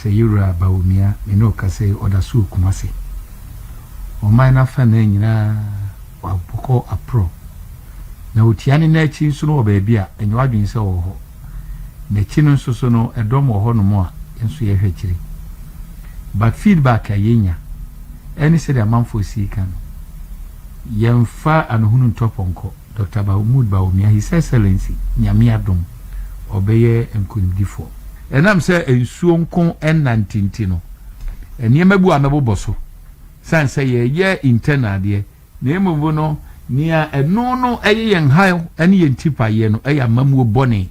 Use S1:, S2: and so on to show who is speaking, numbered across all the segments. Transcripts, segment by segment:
S1: Sɛ Yewura Bawumia me ne wo kasa yi, ɔda soro Kumasi. Ɔman no afanaa nyinaa wɔabɔkɔ aporɔ, na otua ne nan akyi nso no wɔ baabi a ɛnyɛ w'adwene sɛ ɔwɔ hɔ. N'akyi no nso so no, ɛdɔm wɔ hɔnom a yɛn nso yɛhwɛ akyire. But feedback a yɛnya ne sɛdeɛ amanfoɔ si reka no, yɛmfa anohunu ntɔ pɔnkɔ. Dɔkta Mahmoud Bawumia, His Excellency, Nyame adom, ɔbɛyɛ nkonimdifoɔ. Ɛnam sɛ nsuo nko nnante nti no, nneɛma bi wɔ a mɛbobɔ so, sane sɛ yɛreyɛ internal adeɛ, na mmom no nea ɛno no ɛyɛ yɛn haw ne yɛn tipaeɛ no ɛyɛ amammuo bɔne.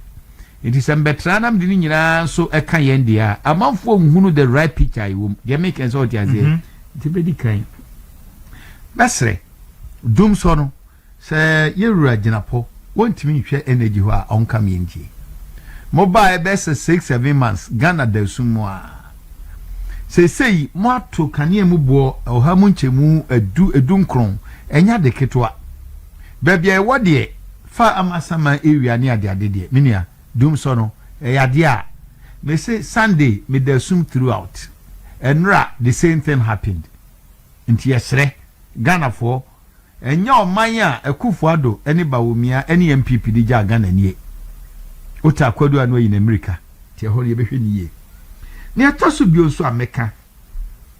S1: Nti sɛ mebɛtra na mede ne nyinaa nso ka yɛn deɛ a, amanfoɔ nhunu the right picture a ɛwɔ mu. Deɛ meka sɛ wote aseɛ? Nti mɛdi kan mɛsrɛ Dumsor no, Sɛ yɛ wura gyina pɔ wɔntumi nhwɛ energy hɔ a ɔnka me ntie. Mo baa yɛ bɛyɛ sɛ six seven months Ghana da sum mu aa. Seisei mo ato kanea mu boɔ ɔha mu nkyɛmu adu edu nkron ɛnyɛ ade ketewa. Baabi a yɛ wɔ deɛ fa ama asaman ewia ne ade ade deɛ me nua dum sɔ no ɛyɛ adeɛ a me se Sunday me da sum through out. Ɛnora the same thing happened. Nti yɛ srɛ Ghana foɔ. Ɛnyɛ ɔman a Akuffo Addo ne Bawumia ne NPP de gyaa Ghana nie. Ota Akwadu Ano ayi n'amirika nti ɛhɔ no yɛbɛhwɛ no yie. Nea ɛtɔ so bio nso a mɛka,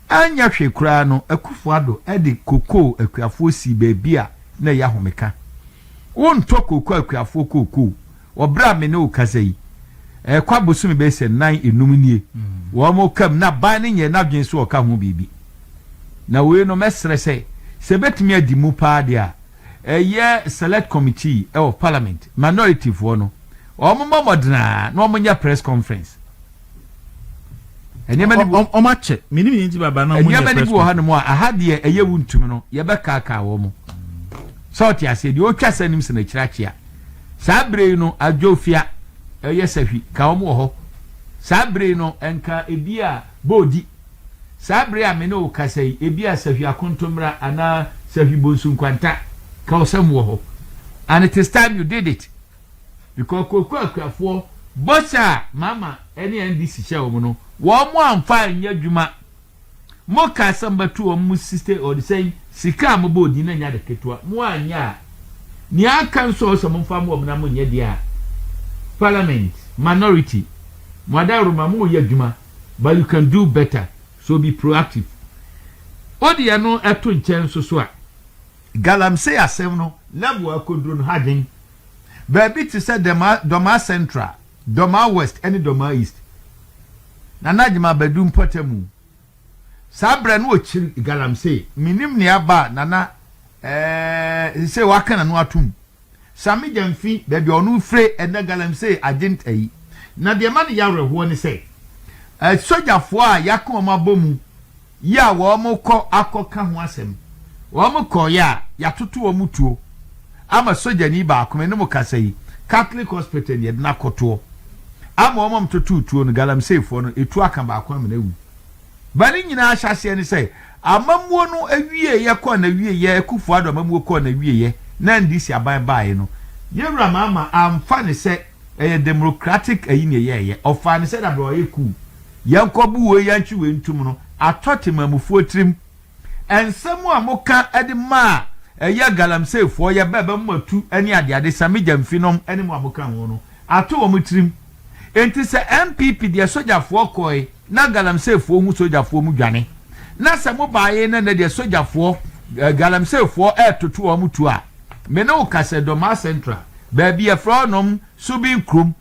S1: anyɛ hwee koraa no Akuffo Addo de kokoo akuafoɔ sii baabi a na ɛyɛ ahomeka. Wontɔ kookoo akuafoɔ kookoo. Wɔ bere a me ne wo rekasa yi, ɛrekɔ abosome bɛyɛ sɛ nnan nnum nie, wɔka mu, na ban no nyɛɛ n'adwene sɛ ɔka ho biribi. Na wei no, mɛsrɛ sɛ, sɛ ɛbɛtumi adi mu paa deɛ a, ɛyɛ Select Committee of Parliament, Minority foɔ no, wɔmmɔ mmɔden ara na wɔnyɛ press conference. nneɛma no bi wɔ wɔn akyɛ menim yɛn ti
S2: baba na wɔn nneɛma no bi wɔ hanom a aha deɛ
S1: ɛyɛ wo ntumi no yɛbɛkaakaa wɔn mo sɛ ɔte aseɛ deɛ ɔtwa sɛ nim sɛ n'akyiri akyea saa bere yi no adwofia ɛyɛ sahwi ka wɔn wɔ hɔ saa bere yi no nka ebi a boodi saa bere a me ne wo kasa yi ebi a sahwi akontommra anaa sahwi bonsu nkwanta ka wɔsɛm wɔ hɔ and it is time you did it Because Koko akuafoɔ bɔhyɛ a Mahama ne NDC hyɛɛ wɔn no, wɔn amfa anyɛ adwuma. Mo kaa sɛ mobɛto wɔn mo sista ɔde sɛn sika a mo bɔɔ din na nyɛ ade ketewa. Mo anyɛ a, nea aka nso ɔsɛ mo mfa mo wɔn na mo nyɛ deɛ a Parliament, minority, mo adaworoma mo yɛ adwuma but you can do better so be proactive. Wo deɛ no ɛto nkyɛn nso so a. Galamsey asɛm no level a akoduru no ha dwen baabi te sɛ Dɛmaa, Dɔmaa Central, Dɔmaa West ne Dɔmaa East. Nana Agyemang Badu mpɔtamu. Saa berɛ no ɔkyiri Galamsey. Mennim nea aba a Nana ɛɛɛ seesei waka n'ano atom. Sa me gya mfi baabi a ɔno mfire ɛnɛ Galamsey Agent ayi. Na deɛ ɛma no yɛ awerɛhoɔ ne sɛ, asogyafoɔ a yɛaka wɔn abɔ mu yi a wɔkɔ akɔka ho asɛm, wɔkɔeɛ a yɛatoto wɔn tuo ama sogyani baako, me ne mo kasa yi, Catholic Hospital ni, yɛde no akɔtoɔ ama wɔn a wɔtotoo tuo no, Galamseyfoɔ no, tuo aka baako ama no awu. Bere no nyinaa ahyɛaseɛ ne sɛ amammuo no awieɛ kɔɔ n'awieɛ, Akufo Addo amammuo kɔɔ n'awieɛ na NDC aban baeɛ no, yɛn Wura Mahama amfa no sɛ ɛyɛ demrokratik ayi na ɛyɛɛyɛ. Ɔfaa no sɛ dabere a ɔyɛ kuu. Yɛnkɔbu wei, yɛnkye wei ntom no, atɔ Temanmufoɔ tirim. Nsɛm a moka de ma a ɛyɛ galamseyfoɔ, yɛbɛba mu atu ne adeade, Sammy Gyamfi nom ne mo a moka ho no, ato wɔn tirim. Enti sɛ NPP deɛ sogyafoɔ kɔɔe na galamseyfoɔ hu sogyafoɔ mu dwane, na sɛ mo baaee na nnɛ deɛ sogyafoɔ, galamseyfoɔ retoto wɔn tuo a, me ne wo ka sɛ Dormaa Central, baabi yɛfrɛ hɔ nom Subin kurom,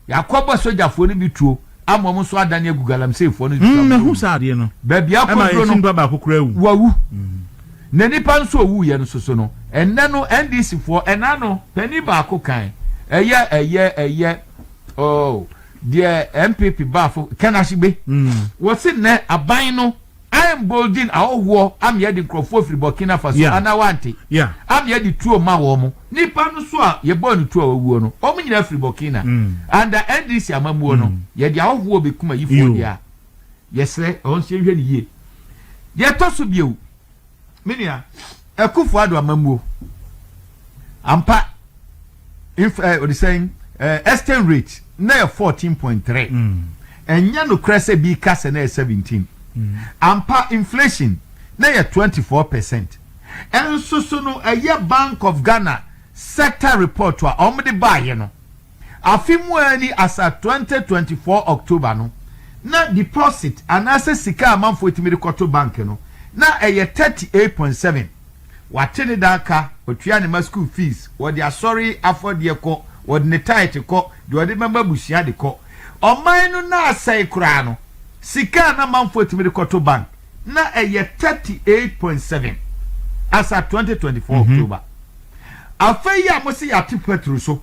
S1: yɛakɔbɔ sogyafoɔ no bi tuo. ama wɔn nso adane agu galamseyfoɔ no nsuamu mm, mu
S2: baabi akɔduro
S1: no wawu
S2: mm.
S1: na nipa nso owuiɛ no soso no ɛnɛ no ndc foɔ ɛna no panin baako kan ɛyɛ ɛyɛ ɛyɛ oh, deɛ npp baafo kɛnahye gbe mm. wɔsi nnɛ aban no. I mboldin ahɔhoɔ am yɛde nkorɔfoɔ firi Burkina Faso Yeah, anaa wante? yeah. Am yɛde tuo ma wɔn. Nipa no so a yɛbɔɔ no tuo a wawuo no, wɔn nyinaa firi Burkina. Mm. Under NDC amammuo no, Mm. yɛde ahɔhoɔ bɛkum ayifoɔ Yo. deɛ a, yɛsrɛ wɔn nso yɛnhwɛ no yie. Deɛ ɛtɔ so bio, Me nua, Akufo Addo amammuo ampa inf eh, ɔde sɛn eh, exchange rate na yɛ fourteen point three ɛnyɛ nokorɛ sɛ bi ka sɛ na yɛ seventeen ampa inflation na yɛ twenty four percent ɛnso so no ɛyɛ Bank of Ghana sector report a wɔn de baayɛ no Afe mu ara ni as at twenty twenty four October no, na deposit anaasɛ sika a amanfoɔ tumi de kɔto bank no, na ɛyɛ thirty eight point seven. Wate ne dan ka, ɔtua ne mma sukuu fees, ɔde asɔre afɔdeɛ kɔ, ɔde ne tithe kɔ, deɛ ɔde bɛma abusua de kɔ. Ɔman no na asɛe koraa no, sika a na amanfoɔ tumi de kɔto bank, na ɛyɛ thirty eight point seven as at twenty twenty four October. Afe yi a mose yɛate petro so,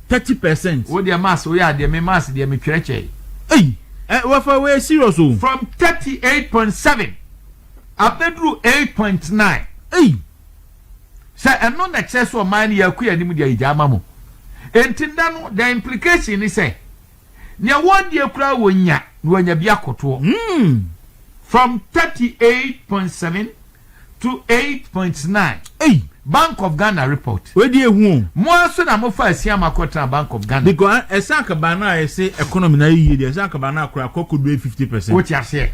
S2: thirty percent. Wo deɛ maths woyɛ
S1: adeɛ me maths deɛ me twerɛ kyɛe. Ei ɛ
S2: wafa woyɛ serious o. From thirty
S1: eight point seven abɛduru eight point nine. Ei. Sɛ ɛno na ɛkyerɛ sɛ ɔman no yɛ akɔ yɛn anim deɛ yɛgyaa ma mo. Enti nnɛ no the implication ne sɛ. Nea wɔredie koraa wɔnya na wɔanya bi akɔtoɔ. From thirty eight point seven to eight point nine Bank
S2: of Ghana
S1: report. Wei deɛ ehu o. Mo
S2: ara so na mo fa
S1: asiam akɔ tena Bank of Ghana. Because ɛsɛ akabaa
S2: no a yɛsɛ economy na ayɛ yie deɛ ɛsɛ akabaa no akora akɔ akɔdu ɛyɛ fifty percent. Wote aseɛ?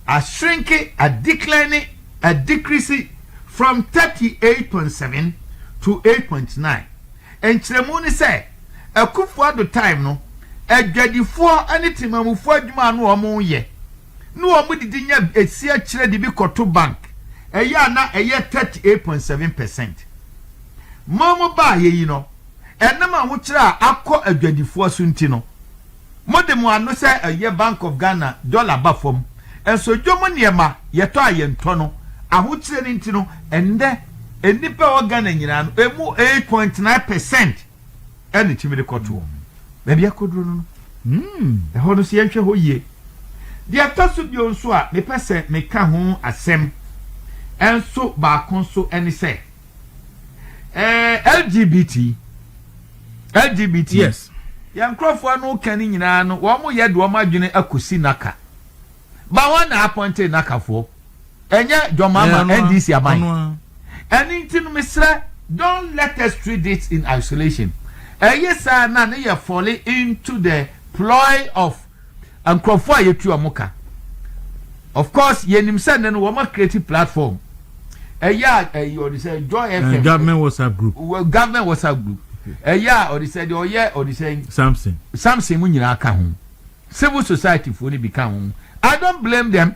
S1: Ashrinke, adecline, adecrease from thirty eight point seven to eight point nine. Nkyerɛmu ne sɛ. Akuffo Addo time no, adwadifoɔ ne temamufoɔ adwuma a na wɔyɛ, ne wɔn didi nya si akyire de bi kɔto bank, ɛyɛ a na ɛyɛ thirty eight point seven percent. Wɔn baayɛ yi no, ɛnam ahokyerɛ a akɔ adwadifoɔ so nti no, Mo de mo ano sɛ ɛyɛ bank of Ghana dollar ba fam nso dwom nneɛma yɛtɔ a yɛntɔ no ahokyerɛ no nti no ɛnnɛ nnipa ɛwɔ Ghana nyinaa no ɛmu eight point nine percent ɛna ɛtumi de kɔtoɔ baabi akɔduro no no ɛhɔ no so yɛnhwɛ hɔ yie deɛ ɛtɔ so bio nso a mepɛ sɛ meka ho asɛm ɛnso baako nso ɛne sɛ ɛɛ lgbt lgbt yes
S2: yɛn nkurɔfoɔ no
S1: ka ne nyinaa no wɔn yɛ de wɔn adwene akɔsi naka ba wɔn na apɔnte nakafoɔ ɛnyɛ dwɔmama eh, ndc aban ɛne nti no mesrɛ don't let us treat it in isolation ɛyɛ saa na ne yɛ falling into the ploy of nkurɔfoɔ a yɛtu wɔn ka. Of course, yɛnim sɛ nnɛ no wɔn akireti platform ɛyɛ a ɛyɛ ɔde sɛ Joy eh, FM. Government WhatsApp group.
S2: Government WhatsApp group
S1: ɛyɛ a ɔde sɛ deɛ ɔyɛ ɔde sɛ. Samson. Samson
S2: mu nyinaa ka
S1: ho. Civil society foɔ no bi ka ho. I don't blame them.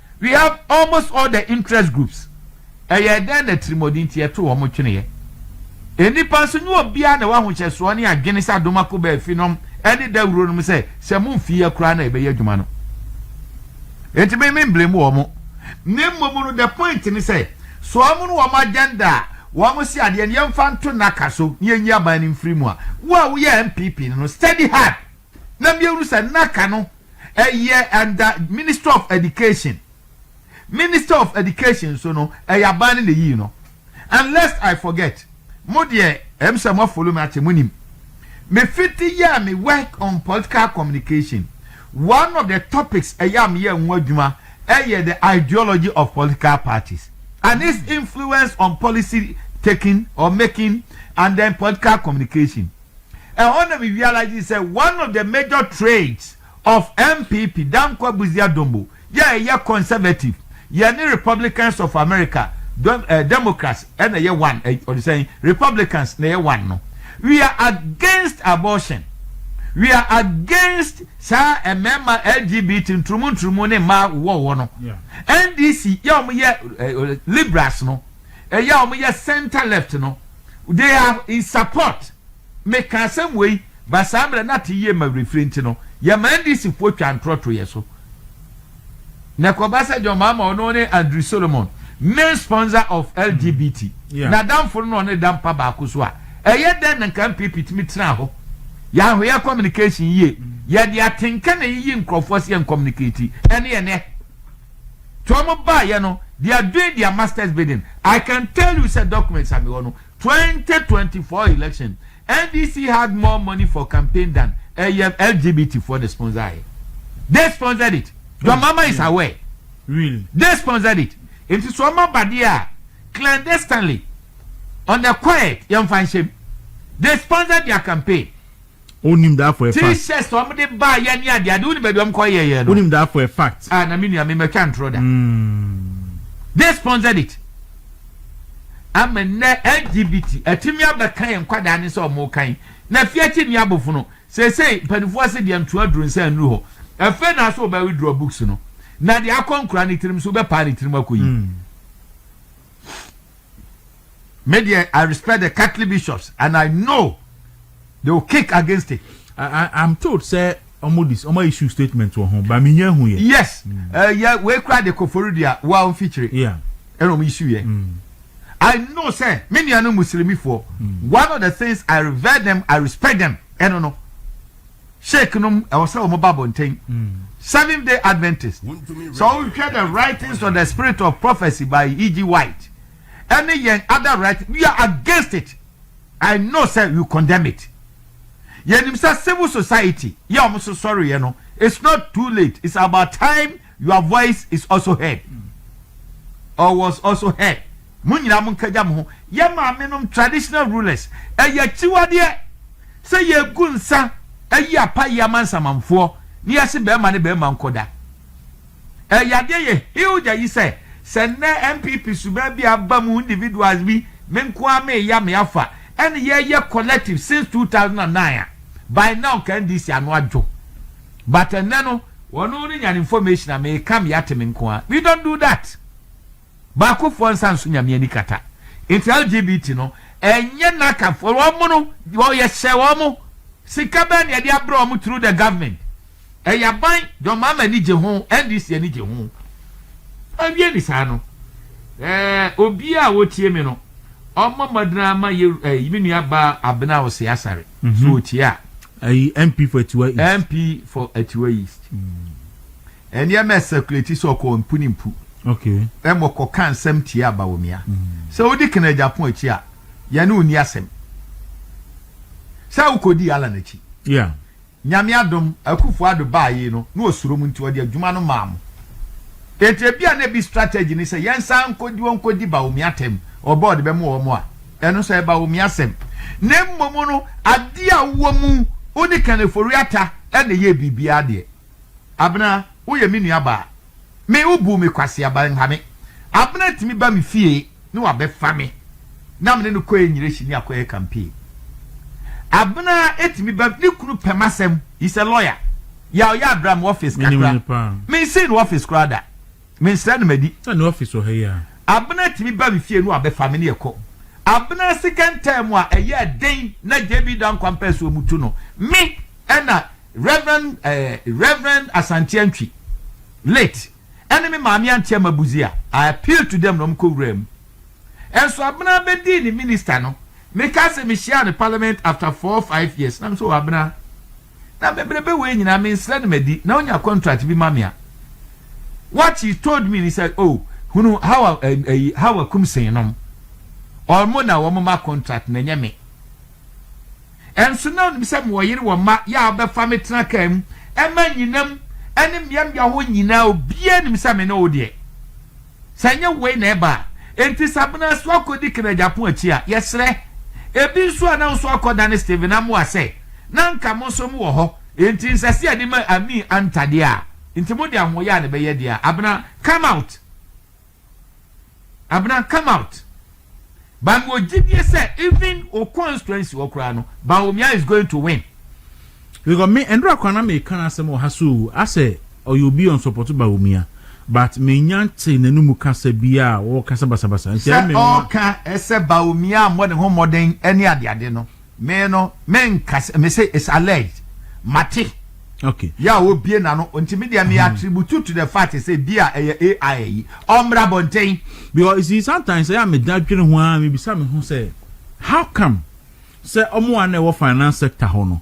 S1: We have almost all the interest groups, ɛyɛɛ dɛn na atirimɔden nti yɛtoo wɔn tweneeɛ? Nnipa nso, nyɛ obiara na ɛwɔ ahohyɛsoɔ ne adwene sɛ Adomako baa efinom ne dawuro nom sɛ, sɛ momfiiɛ koraa na yɛbɛyɛ adwuma no. Enti me, me mblame wɔn. Na mmom no, the point ne sɛ, sɛ wɔn ne wɔn agenda a wɔn se adeɛ no, yɛmfa nto nnaka so na yɛnyi aban no mfiri mu a, wo a woyɛ NPP no no, study hard. na miehunu sɛ na ka no ɛyɛ under ministry of education minister of education nso no ɛyɛ aban no na eyii no unless I forget mo deɛ ɛm sɛ mo follow me akyɛ mo nim me fiti yɛɛ me work on political communication one of the topics ɛyɛ a meyɛ ho adwuma ɛyɛ the ideology of political parties and its influence on policy taking or making and then political communication. Ɛhɔ na me realize sɛ one of the major traits of NPP, Danquah Busia Dombo, yɛ a ɛyɛ conservative, yɛne Republicans of America, Democrats na ɛyɛ one, ɔde sɛn, Republicans na ɛyɛ one no, we are against abortion, we are against saa mmarima LGBT nturumu nturumu ne mmaa wowɔwowɔ no. NDC yɛ a wɔyɛ liberals no, ɛyɛ a wɔyɛ centre left no they are in support meka asɛm wei ba saa mmerɛ na te yie ma werɛfiri nti no yɛma NDC foɔ twa ntorɔ to yɛ so na kɔba sɛ John Mahama ɔno ne Andrew Solomon main sponsor of LGBT mm. na damfo no na ɔne da mpa baako so a ɛyɛ dɛn na nka MPP tumi tena hɔ yɛahoyɛ communication yie yɛde atenka na yiyi nkurɔfoɔ sɛ yɛn communicate ɛne yɛn nɛ To a ɔmo baayɛ no they are doing their masters bidding I can tell you sɛ documents a mewɔ no twenty twenty four election NDC had more money for campaign than ɛyɛ LGBT foɔ na sponsor yɛ they sponsored it your mama is aware really they
S2: sponsored it
S1: nti so ɔmo abadeɛ a clandestinely on the quiet yɛn fa nhyɛm they sponsored their campaign. Wonim
S2: that for a fact. T-shirts na wɔn de baa
S1: yɛ ne adeade wonim baabi wɔn kɔ yɛ yɛ no. Wonim that for a fact.
S2: Ah na mi nua mi ma twa
S1: ntoro da. Mm. They sponsored it. Ama nnɛ LGBT atumi abɛka yɛn nkwadaa ne sɛ wɔn kan na fie akyi ni abofono sɛsɛyi mpanimfoɔ se deɛ ntoa duro nsa nnuru hɔ ɛfɛ na so wɔbɛ withdraw books no na deɛ akɔ nkura ne tirim so wɔbɛpaa ne tirim akɔ yi. Mm. Me deɛ, I respect the Catholic bishops and I know they will kick against it. I, I, I'm told
S2: sɛ ɔmo dis ɔmo issue statement wɔ ho ba mi nya ehu yɛ. Yes, mm. uh, yeah,
S1: wei kura de kofori di a wa ɔmo fikyiri. Yeah. Ɛna ɔmo
S2: issue yɛ. Mm.
S1: I know sɛ me nua no muslimifoɔ mm. one of the things I revere them I respect them ɛno no. Sheik nom ɛwɔ sɛ wɔn ba abɔnten. Seventh day Adventist sɛ wohwɛ the writings on the spirit of prophecy by E.G. White ɛne yɛn other writings we are against it I know sɛ you condemn it yɛnim sɛ civil society yɛ wɔn so sɔreɛ no it's not too late it's about time Your voice is also heard, or was also heard, Mo nyinaa monkagya mo ho. Yɛn maamenom, traditional rulers, ɛyɛ akyiwadeɛ sɛ yɛgu nsa ayi apayeɛ ama nsamanfoɔ na yɛse barima ne barima nkɔda. Ɛyɛ adeɛ yɛ huge ayi sɛ, sɛ nnɛ NPP suban bi a aba mu individuals bi, me nko ara meya me afa, ɛne yɛyɛ collective since 2009 a, by now nka NDC ano adwo. But ɛnɛ no wɔno no nyan information a me come yate me nko ara we don't do that baako foɔ nsa nso nyame ani kata nti LGBT no ɛnyɛ naka foɔ wɔn no wɔyɛ hyɛ wɔn mo sika bɛn na yɛde abrɛ wɔn through the government ɛyɛ aban John Mahama ani gye ho NDC ani gye ho awie ni saa no ɛɛ obi a wɔtie me no ɔmɔ mɔdena ama yɛ ɛɛ me nua ba abena ɔsɛ asare. Mm-hmm. So tie a. Ayi MP for
S2: Atiwa East. MP for Atiwa
S1: East. Ɛnneɛ mm. mɛ circulate sɛ ɔkɔ mpu ne mpu. Okay. Ɛmɔ
S2: kɔ ka
S1: nsɛm tie aba wɔ mia. Mm. Sɛ wodi kena Japan akyi a, yɛne wo ni asɛm. Sɛ wokɔdi ala n'akyi. Yeah.
S2: Nyame adom
S1: akufo ado baa yi no na ɔsuro mu nti ɔde adwuma no maa mo. Enti ebi a na ebi strategy ne sɛ yɛnsan nkɔdi wɔn nkɔdi ba omi atɛm ɔbɔ ɔde bɛmo wɔn a Ɛno sɛ ɛba wɔ me asɛm. Na mmom no, adeɛ a wowɔ mu, wode Ken Ofori-Atta na ɛyɛɛ biribiara deɛ. Abena, woyɛ me nuabaa. Me, wobuu me kwaseaba, nha me. Abena tumi ba me fie na wabɛfa me, na me ne no kɔyɛ nyirahyini akɔyɛ campaign. Abena tumi ba, ne kunu pɛ m'asɛm, he's a lawyer. Yaw, Yaw bra m'office kakra. Mensee no office koraa da. Me nsra no madi. Sɛ ne office wɔ ha yi a.
S2: Abena tumi ba
S1: me fie no a bɛfa me ne yɛkɔ. Abena sika ntaa mu a ɛyɛ den na JB Dankwa mpɛsoɔ mu tu no me ɛna Rev. Rev. Asante Antwi, late, ɛne me maame Auntie Ama Busia. I appeal to them na wɔn kɔ wuraa mu. Ɛnso Abena bɛdii ne minister no me ka sɛ me hyiaa no parliament after four five years na me sɛ oh Abena. na bebrebe wei nyinaa me nsrɛ no madi na onya contract bi ma me a what he told me ni sɛ oh hunu hawa ɛyi hawa kum sen nom ɔmo na wɔn ma contract na nyɛ me ɛnso na onim sɛ mo ɔyere wɔ ma yɛ a ɔbɛfa me tena kaa mu ɛma nyinam ɛne mmeammea hɔ nyinaa obiara nim sɛ me ne wo deɛ. Sɛ ɛnyɛ wei na ɛba a, enti sɛ Abena so akɔdi Ken Agyapong akyi a, yɛsrɛ. Ebi nso a na nso akɔdane Stephen Amoah sɛ, na anka mo nso mowɔ hɔ, enti nsɛ sɛ yɛde ma Amie Anntah deɛ a, enti mode ahoɔyaa na ɛbɛyɛ deɛ a, Abena, come out! Abena, come out! but me wɔ gyidie sɛ even o constituency hɔ koraa no Bawumia is going to win. Because
S2: me Ndora koraa na meka n'asɛm wɔ ha so o asɛ ɔyɛ obi a ɔnsɔpɔto Bawumia but menya nte n'anumu kasa biaa a ɔɔka sɛ basabasa nti ɛyɛ me nwa. Sɛ ɔɔka
S1: sɛ Bawumia ammɔ ne ho mmɔden ne adeade no Me no me nka sɛ me sɛ it's alleged mate. Okay.
S2: Ya wo bie na
S1: no nti me deɛ me mm-hmm. attribute to the fact sɛ bi a ɛyɛ AI yi ɔmmra bɔnten. Because you see
S2: sometimes ɛyɛ a me da dwene ho ara me bisa me ho sɛ how come sɛ ɔmo a na ɛwɔ finance sector hɔ no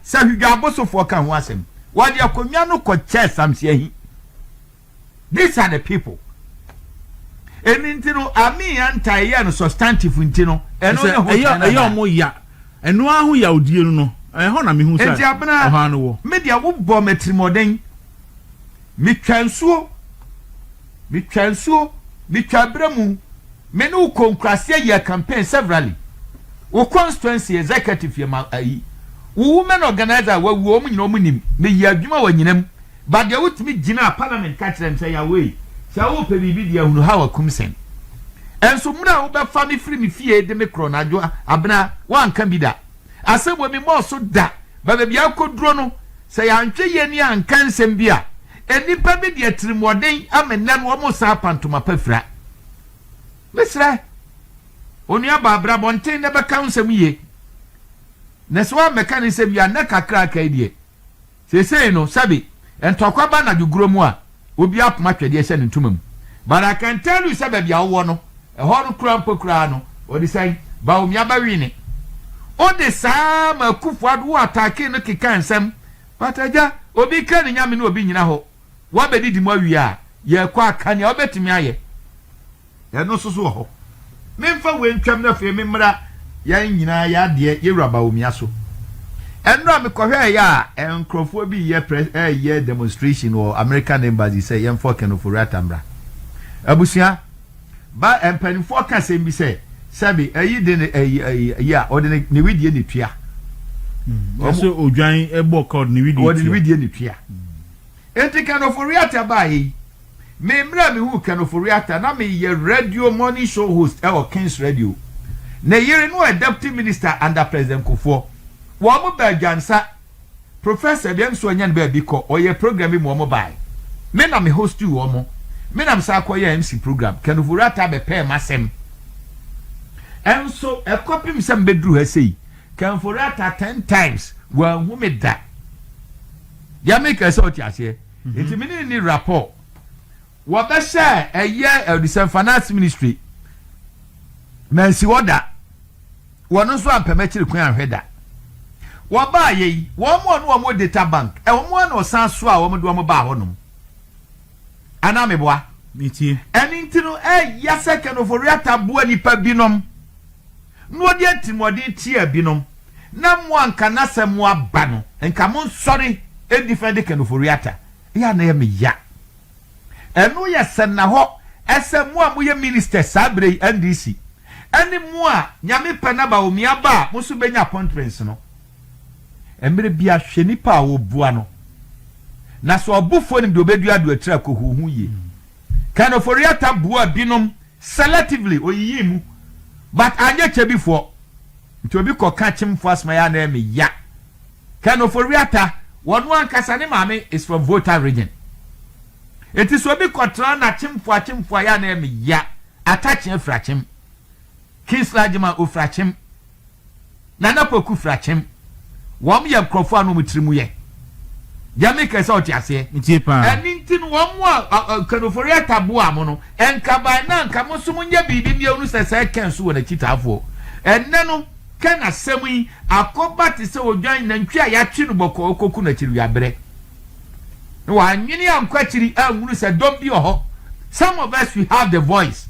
S1: Sɛ hwidwabosofoɔ ka ho asɛm, wɔde akonnwa no kɔkyɛɛ Samsiahi. These are the people. Ɛno nti no, Ami Anta ɛyɛɛ no substantive nti no, ɛno ne ho kyɛn nana. Ɛyɛ ɔmo
S2: ya. Ɛno ara ho yawdie no no, ɛhɔ na mehu sɛ ɔhaw no wɔ.
S1: Me deɛ wobɔ
S2: me
S1: atirimɔden. Metwa nsuo. Metwaa nsuo, metwaa abira mu. Me ne wo kɔɔ nkuraseɛ yɛɛ campaign severally. Wo constituency executive yɛ ma ayi. Wo women organiser a wawuo wɔn nyina wɔn nim. Meyɛɛ adwuma wɔ anyina mu. But deɛ wotumi gyinaa parliament ka kyerɛɛ me sɛ Yawee, sɛ wopɛ biribi deɛ hunu Hawa Kumsɛn. Nso mmerɛ a wobɛfa me firi me fie de me korɔ no Adwoa, Abena, woanka bi da. Asɛm wɔ me mɔɔ so da, ba baabi a akoduro no, sɛ yɛantwe yɛn ani anka nsɛm bi a, nnipa bi de atirimuɔden ama nnɛ no wɔn resan apa ntoma pa fira. Mesrɛ onua baa bra abɔnten na bɛka wo nsɛm yie, na sɛ woammɛka ne nsɛm yie a, nnɛ kakra a aka yi deɛ, Seesei no, sɛbe ntɔkwa ba anadwo guro mu a, obi apoma atwɛdeɛ hyɛ ne ntoma mu. But I can tell you sɛ baabi a wowɔ no, ɛhɔ no kura mpo koraa no, ɔde sɛn? Bawumia Bawine. Ode saa ara ma Akufo Addo, wo attackee no keka nsɛm, but agya, obi ka ne nyame na obi nyina hɔ. Woabedidi mu awie a, yɛkɔ a, ka nea wobetumi ayɛ. Ɛno nso so wɔ hɔ. Memfa wei ntwam na afei memmra yɛn nyinaa yɛn adeɛ, yɛn wura Bawumia so. Ɛnora a mekɔhwɛeɛ a nkurɔfoɔ bi reyɛ press reyɛ demonstration wɔ American embassy sɛ yɛmfa Ɔken Ofori-Atta mmra. Abusua, ba mpanimfoɔ ka asɛm bi sɛ sɛbi ayi de ne ayi ayi ayi a ɔde ne ne widie ne tua. Wɔn
S2: Ɛsɛ odwan ɛbɔ ka ɔde ne widie wɔde ne tua. widie ne tua.
S1: Enti Ken Ofori-Atta baeɛ yi. Me mmerɛ a mewuu Ken Ofori-Atta na meyɛ radio morning show host wɔ Kings Radio. Ne yere no yɛ Deputy Minister under President Kufuor. Wɔn baa Dwansa. Professor deɛ nso ɔnya ne baabi kɔ, ɔyɛɛ program bi ma wɔn baeɛ. Me na me hostii wɔn. Me na mesan kɔyɛɛ MC program. Ken Ofori-Atta bɛpɛɛ m'asɛm. Nso ɛkɔpem sɛ mebɛduru ha sei, Ken Ofori-Atta ten times, wanhu me da. Deɛ meka sɛ wote aseɛ? Nti me ne no ni rapport. Wɔbɛhyɛ ɛyɛ Ɔdisɛn Finance Ministry. Mansi hɔ da. Wɔno nso ampɛ m'akyiri kwan anhwɛ da. Wɔbaayɛ yi, wɔn a ɔne wɔn data bank, wɔn ara na ɔsan so a wɔde wɔn baa hɔnom. Anaa meboa? Metie. Ɛno
S2: nti no,
S1: ɛyɛ sɛ Kenoforeata boa nnipa binom. na ɔde atirimuɔden tiaa binom, na mo a nka n'asɛm mo aba no, nka mo nsɔre ɛdi fɛ de kanoforiata, ɛyɛ a na ɛyɛ me ya. Ɛno yɛ sɛnnahɔ ɛsɛ mo a mo yɛ ministers saa berɛ yi, NDC, ɛne mo a Nyame pɛ na Bawumia ba a mo nso bɛnya appointments no. Mmerɛ biara hwɛ nipa a ɔbua no, na sɛ ɔbofoɔ nim deɛ ɔbɛdua de atiri akɔhuhu yie. Ken Ofori-Atta buaa binom selectively, oyiyii mu, but anyɛ Kyebifoɔ. Nti obi kɔ ka Kyemfoɔ asem a ɛyɛ a na ɛyɛ me ya. Ken Ofori-Atta, ɔno ankasa ne maame is from Volta region. Nti sɛ obi kɔtra na Kyemfoɔ a Kyemfoɔ a ɛyɛ a na ɛyɛ me ya. Attache firi Akyem. Kingsley Agyemang ɔfiri Akyem, Nana Kwaku firi Akyem, wɔn yɛ nkurɔfoɔ a na wɔn tiri mu yɛ deɛ meka yi sɛ ɔte aseɛ. Metie paa. Ɛno nti
S2: no wɔn a
S1: Kanoforeata boaa mo no, nka by now nka mo nso monyɛ biribi mmea ɔnu sɛ sɛɛ Ken nso wɔ n'akyitaafoɔ. Ɛnnɛ no Ken asɛm yi akɔba te sɛ odwan nantwie a yɛatwe no bɔkɔɔ rekɔku no akyiriwiaberɛ. na w'annwene ankɔ akyiri anhunu sɛ dɔm bi wɔ hɔ, some of us we have the voice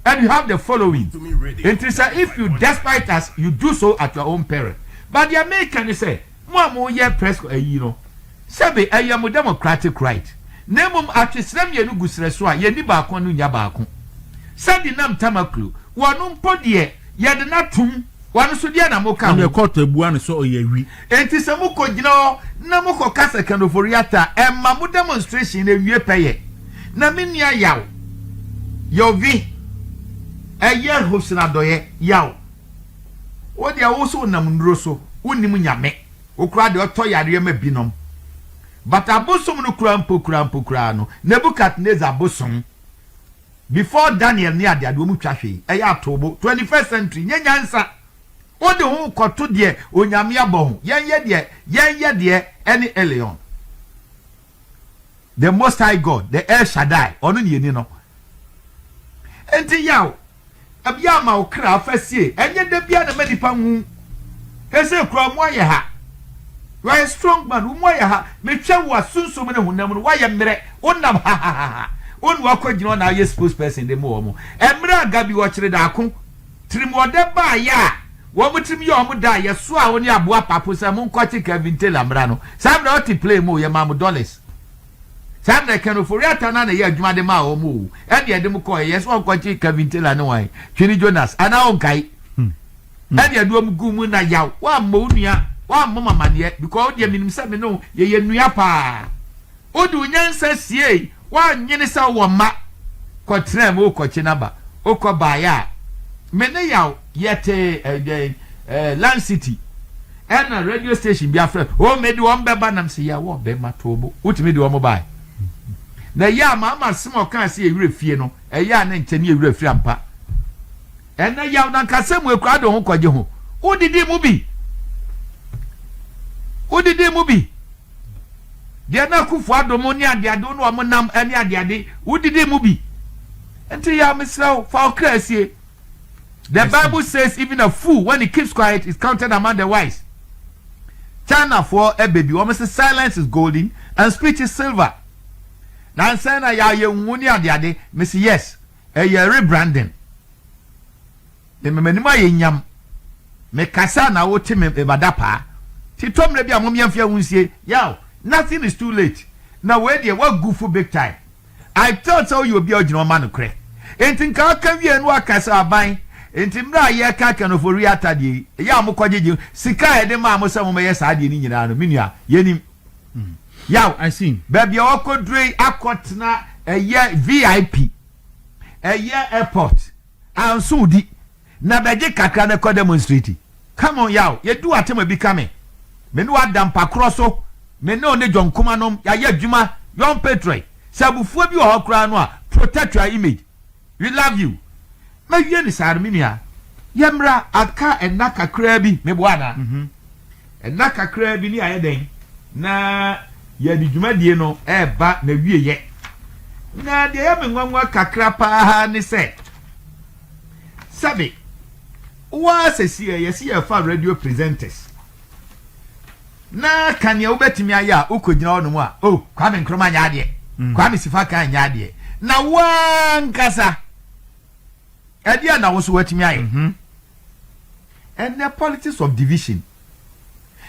S1: and we have the following, nti sɛ if you despite us you do so at your own peril, but deɛ meka ne sɛ mo a mo yɛ press co ayi no sɛbe ɛyɛ mo democratic right na mmom atwe serɛ mmienu gu serɛ so a yɛnni baako ano nnya baako sɛde nam Tamaklo wɔ no mpo deɛ. Yɛde no atom. Wɔn nso, deɛ na moka ho? Ɛnneɛ kɔɔto abua no sɛ
S2: ɔyɛ awi. Enti sɛ mokɔgyina
S1: hɔ na mokɔka sɛ Ken Ofori-Atta a, ɛmma mo demonstration no awie pɛyɛ. Na me nua Yaw, Yovi, ɛyɛ Hobson Adɔeɛ, Yaw, wo deɛ wo so wonam nnuro so, wonnim Nyame. Wo koraa deɛ ɔtɔ yareɛ ma binom. But abosom no koraa mpo koraa mpo koraa no, Nebuchadnezzar bosom. Before Daniel ne adeade wɔn twa hwee ɛyɛ atoobo twenty first century nyɛ nyansa wode ho kɔto deɛ onyame abɔ ho yɛn yɛ deɛ yɛn yɛ deɛ ɛne Elyon the most high God the El Shaddai ɔno ne yɛni no nti yaw. Da biara ma wo kra fa sie ɛnyɛ da biara na ɛma nipa hu he sɛ kura ɔmo ayɛ ha you are a strong man wo mu ayɛ ha metwɛ wo a sunsum ne honam no woayɛ mmerɛ wo nam hahahaha wo ne wakɔ gyina ɔna ayɛ spokesperson de mo ɔmo ɛmmerɛ a gabi wɔ kyere daako tirim ɔdɛ baa yɛ a wɔn tirim yɛ ɔmo da a yɛ soa wo ne aboa papo sɛ mo nkɔ kye Kevin Taylor mmra no saa mmerɛ ɔte plane mu yɛ maa mo dollars Saa na ɛka no Ofori Atta no ara na ɛyɛɛ adwuma de maa wɔn oo, ɛnna ɛde wɔn kɔeɛ, yɛse wɔnkɔgye Kevin Taylor ne hwan, Twene Jonas, anaa wonkae? Ɛnna ɛde wɔn guu mu na yaw, woammɔ wo nua, woammɔ me amaneɛ, because wo deɛ menim sɛ me ne wo yɛyɛ nua paa. Wode wo nyansa siei, woannwene sɛ wowɔ mma, kɔtraa mu, wokɔkye n'aba, wokɔbaeɛ a, me ne yaw. Yɛtee eh, dɛn eh, Land City ɛna radio station bi afrɛ oh, mede wɔn bɛba nam sɛ yɛwɔ bɛma too bo wotumi de wɔn bae na ɛyɛ a maama asɛm ɔkaa sɛ yɛwerɛ fie no ɛyɛ a ne nkyɛ ne yɛwerɛ firi ampa ɛnɛ yaw no ankasa mu akura de ho kɔgye ho wodidi mu bi wodidi mu bi deɛ na akufo adom ne adeade wo ne wɔn nam ne adeade wodidi mu bi nti yɛ a mesrɛ wo fa ɔkra asie The Bible says even a fool when he keeps quiet is counted among the wise. China for a baby, wɔn sɛ silence is golden and speech is silver. Na nsɛn na yɛ ayɛ nhu ne ade ade, mesi yes, ɛyɛ rebranding. Mmɛmɛ anim ayɛ nyam. Mekasa na wote me ebada paa. Titɔ mmerɛ bi a mom yɛmfeɛ ho nsie. Yaw, nothing is too late. Na wei deɛ wagu fo big time. I felt sɛ woyɛ obi a wogyina hɔ ma nokorɛ. Enti nka ɔka wieɛ na waka sɛ aban nti mmerɛ a yɛreka Akanofori Atta deɛ yi, ɛyɛ a mokɔgyegye sika a yɛde maa mo sɛ mommɛyɛ saa deɛ no nyinaa no, me nua, yɛnim. Yaw, baabi
S2: a wɔkɔduro yi
S1: akɔtena ɛyɛ VIP, ɛyɛ airport, anso wodi. Na bɛgye kakra no kɔ demonstrate. Come on yaw, yɛduu Artema bi ka me. Me ne w'ada mpa korɔ so, me ne ɔne John kumanom, yɛayɛ adwuma, young patriot, sɛ abufuo bi wɔ hɔ koraa no a, protect your image. We love you. Mɛwie no saa no me nua. Yɛmmra, aka nna kakraa bi, meboa anaa? Nna kakraa bi ne yɛayɛ dɛn? Na yɛde dwumadie no reba n'awieɛ. Na deɛ ɛyɛ me nwanwa kakra pa ara ne sɛ, Sɛbe, woaa sɛsiɛ yɛse yɛfa radio presenters na ka neɛ wobɛtumi ayɛ a wokɔgyina hɔ nom a oh Kwame Nkrumah nyɛ adeɛ mm. Kwame Sifakan nyɛ adeɛ na woaa nkasa ɛdeɛ na wo so watumi ayɛ mm -hmm. and the politics of division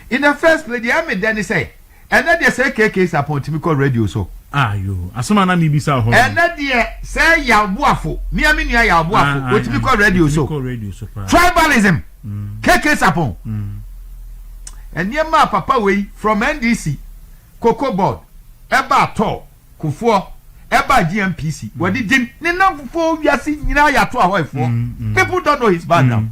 S1: In the first place deɛ ɛme dɛ ne sɛ ɛnɛ deɛ sɛ KK Sarpong tumi kɔ radio so. Ah yoo asɛm a
S2: na mi bisa wɔ hɔ nom. Ɛnɛ deɛ sɛ
S1: Yaw Boafo, mia me nua Yaw Boafo, otumi kɔ radio so. Tribalism! KK Sarpong! Nneɛma a papa wei from NDC, Cocoa Board, ɛbaa tɔɔ, Kufuɔ, ɛbaa GNPC, wɔde din ne nnamfofoɔ wiase nyinaa yɛ atoa hɔ efoɔ. People don't know his background.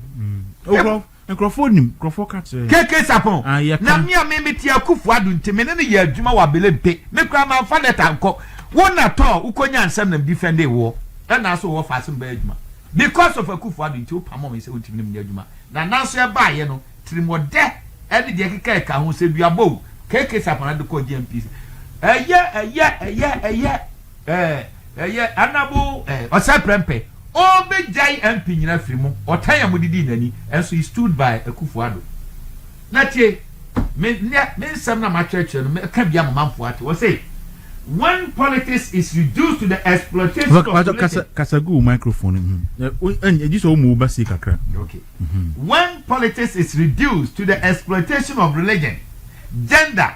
S1: Ɔkɔ
S2: Nkurɔfoɔ nim, nkurɔfoɔ ka kyerɛ yɛn. KK Sarpong,
S1: Ah, yɛ Na ka. me a me mete Akuffo Addo nti me ne no yɛ adwuma wɔ Abelempe. Me koraa manfa lɛta ankɔ. Wo na tɔ a wokɔnyaa nsɛm na me defɛndee woɔ. Ɛnaa so wɔ ɔfaa se mebɛyɛ adwuma. Because of Akuffo Addo nti wopamoo me sɛ wontumi ne menyɛ adwuma. Na nanso ɛbaeɛ no, tirimɔdɛ ne deɛ ɛkeka ɛka ho sɛ duabɔ o, KK Sarpong na de kɔɔ GMPC. Ɛyɛ, ɛyɛ, ɛyɛ, ɛyɛ, eh, ɛyɛ, Honourable eh, Ɔsɛe Prɛmpɛ. Ɔbɛgyae MP nyina afiri mu ɔtan a mode dii no ani nso he stood by Akufo Addo na tie me nnɛ me nsɛm na makyerɛkyerɛ no mɛka bi ama manfoɔ ate ɔse when politics is reduced to the exploitation of Pastor religion kasa kasa gu wo
S2: microphone no mu ɛn ɛgye sɛ ɔmu wo ba sei kakra ok
S1: when politics is reduced to the exploitation of religion, gender,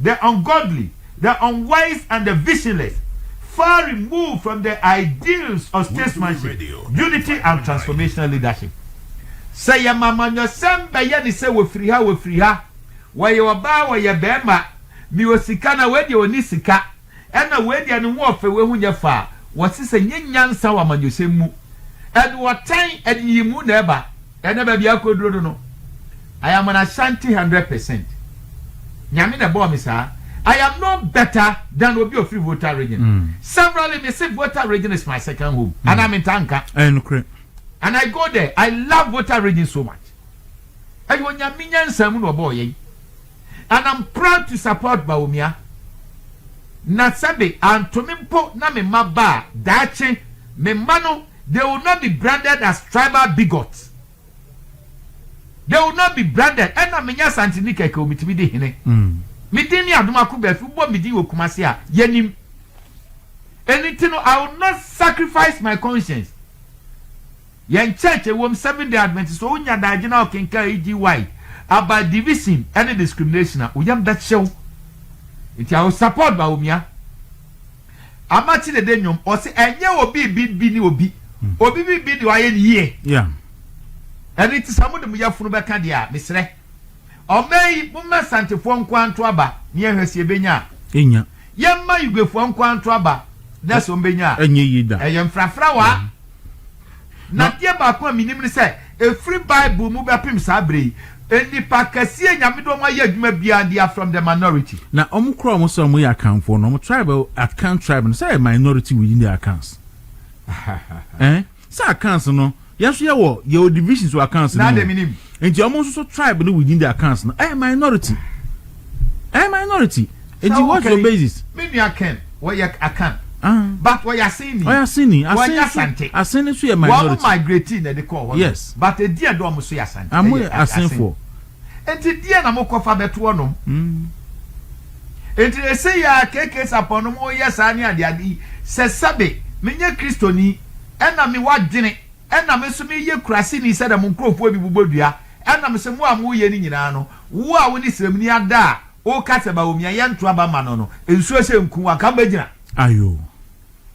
S3: the ungodly, the unwise and the visionless, far removed from the ideals of statesmanship, unity and transformational leadership. Sɛ yɛma amanyɔsɛm bɛyɛ ne sɛ wɔfiri ha, wɔfiri ha, wɔyɛ ɔbaa, wɔyɛ barima, mewɔ sika na wei deɛ ɔnni sika, Ɛna wei deɛ ne ho ɔfɛ, wei ho nyɛ fɛ a, wɔse sɛ nyɛ nyansa wɔ amanyɔsɛm mu. Ɛde ɔtan, ɛde nyiyimu na ɛba. Ɛna baabi akɔduro no no, I am an Ashanti hundred percent. Nyame na ɛbɔɔ me saa. I am no better than obi a ɔfiri Volta region. Severally, me se Volta region is my second home. Anaa mentaa nka. Ɛyɛ nokorɛ. And I go there. I love Volta region so much. Ɛyɛ Onyame nyansa mu na ɔbɔɔ yɛn. And am proud to support Bawumia na sɛbe antomi mpo na me mma ba a daakye me mma no they will not be branded as tribal bigots they will not be branded ɛna menyɛ asanteni kɛkɛ o metumi di hene me din ne adom ako baafi wobɔ me din wɔ kumase a yɛnim ɛno nti no I will not sacrifice my conscience Yɛn church ɛwom seven day adventist sɛ onya daagye na ɔkenkan EGY about division ɛne discrimination a oyam bɛhyew nti I will support Bawumia Amakye dede nnwom ɔse ɛnyɛ obi bi bi ne obi obi bi bi deɛ wayɛ ne yie
S2: ɛne
S3: nti sɛ mode mo yafunu bɛka deɛ a mesrɛ ɔman yi momma santefoɔ nkoa nto aba ne yɛhwɛ sɛ yɛbɛnya a ɛnya
S2: yɛmma yuguefoɔ
S3: nkoa nto aba na sɛ ɔmbɛnya a ɛnyɛ yi da ɛyɛ
S2: mfrafra waa
S3: Na adeɛ baako a menim ne sɛ, ɛfiri Bible mu bɛpem saa berɛ yi, nnipa akɛseɛ a Nyame de wɔn ayɛ adwuma biara, they are from the minority. Na wɔn kora wɔn sɛ
S2: wɔyɛ Akanfoɔ no, wɔn tribe, Akan tribe no, sɛ ɛyɛ minority within the Akans. Ɛn, sɛ Akans no, yɛn nso yɛwɔ, yɛwɔ divisions wɔ Akans no mu. Enti
S3: ɔmo nso so tribe
S2: no within their cans no ɛyɛ minority. Ɛyɛ minority. Enti what's your basis? Me nua Ken,
S3: wɔyɛ Akan. Ah. But wɔyɛ Aseni. Wɔyɛ Aseni. Asen so, Asante.
S2: Asen nso yɛ minority. Wɔn migrate na ɛde
S3: kɔɔ hɔ. Yes. But ɛdi ɛdɔ
S2: ɔmo so
S3: yɛ Asante. Ɔmo yɛ Asenfoɔ.
S2: Enti deɛ
S3: na mo kɔfa bɛto ɔnom. Mm. Enti ɛsɛ yɛ a KK sapɔn no mo yɛ saa ne adeade yi sɛ sɛbe menyɛ kristoni ɛna me wadwene Ɛna me nso meyɛ kuraseni sɛdeɛ mo nkurɔfoɔ bi bobɔ dua. Ɛna mesɛ mo a moreyɛ no nyinaa no, wo a wone srɛmini ada a woka sɛ Bawumia yɛnto aba mma no no, nsuo sɛ nku wo anka wobɛgyina? Ayo.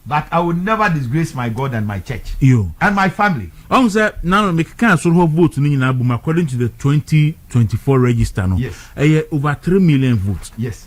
S2: But
S3: I will never disgrace my God and my church Yo. and my family. Wahu sɛ na no
S2: mekekaa soro hɔ vote no nyinaa bom according to the twenty twenty four register no Yes. ɛyɛ over
S3: three
S2: million vote. Yes.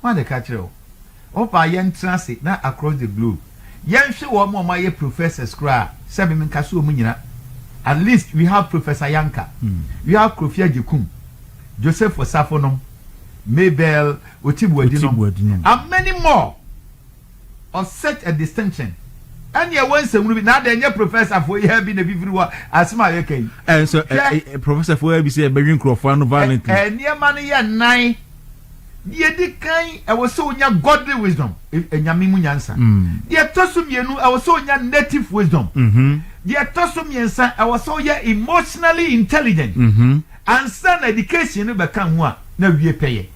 S3: Hwan na ɛka kyerɛɛ wo? Ɔpaa yɛn tra ase na across the globe yɛn hwe wɔn a wɔayɛ professors koraa a sɛ me menka so wɔn nyina at least we have Professor Yanka, we have Krofi Agyekum, Joseph Osafo nom, Mabel Otibwadi nom and many more. Of such a distinction ɛne ɛwɔ nsɛmunu bi na adɛn nyɛ professor foɔ yi ha bi na ɛfifiri hɔ asɛm a yɛka yi ɛnso hwɛ
S2: professor foɔ yi bi sɛ ɛbɛdwe nkurɔfoɔ ano violently nneɛma no yɛ
S3: nnan deɛ ɛdi kan ɛwɔ sɛ wonya godly wisdom ɛnyame mu nyansa deɛ ɛtɔ so mmienu ɛwɔ sɛ wonya native wisdom deɛ ɛtɔ so mmiɛnsa ɛwɔ sɛ woyɛ emotionally intelligent Ansa na education no bɛka ho a, na wie pɛ yɛ.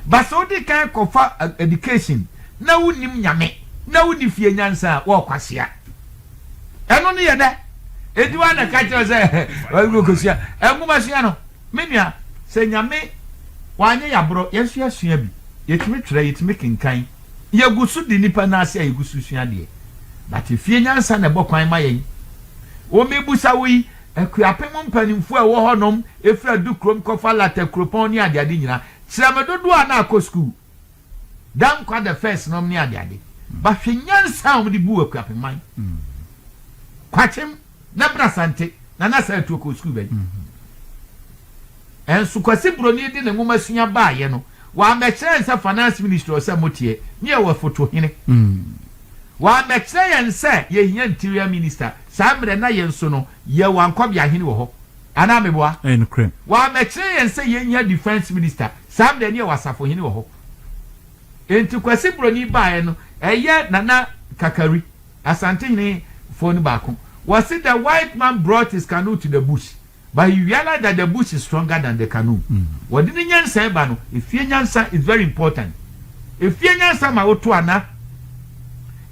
S3: But sɛ wode kan kɔfa education na wonnim Nyame, na wonni fie nyansa a, woayɔ kwasea. Ɛno no yɛ dɛ. Enti woa na ɛka kyerɛ wo sɛ ɛhɛ, wokɔsua. Nwoma sua no, me nua, sɛ Nyame wanyɛ yɛ aborɔ, yɛn nso yɛasua bi. Yɛtumi twerɛ, yɛtumi kenkan. Yɛgu so di nnipa nan ase a yɛgu so sua adeɛ. But fie nyansa na ɛbɔ kwan ma yɛn. Wo, mebusa wo yi, Akuapem mpaninfoɔ a ɛwɔ hɔ nom firi Adukurom kɔfa Lata kuropɔn ne adeade nyina. Kyerɛ me dodoɔ a na akɔ sukuu da nkwa the first nom ne adeade. Ba hwɛ nyansa a wɔn de buu Akuapem man. Kwakyem na Brasante na na saa atuo kɔɔ sukuu bɛn? Nso Kwasi Broni de ne nwoma sua baayɛ no wammɛkyerɛ yɛn sɛ Finance Ministry ɔsɛ moteɛ ne yɛwɔ foto hene.
S1: Wammɛkyerɛ yɛn sɛ yɛhia Interior Minister Saa mmerɛ na yɛn nso no yɛwɔ ankɔbea hene wɔ hɔ anaa meboa? Ɛyɛ nokorɛ. Wɔammɛkyerɛ
S2: yɛn
S1: sɛ yɛnhia defence minister saa mmerɛ no yɛwɔ asafo hene wɔ hɔ enti Kwasi Broni baeɛ no ɛyɛ Nana Kakari Asantehene foɔ no baako wɔse the white man brought his canoe to the bush. But you realize that the bush is stronger than the canoe? Wɔde ne nyansa ɛba no, efie nyansa is very important. Efie nyansa ma woto ana?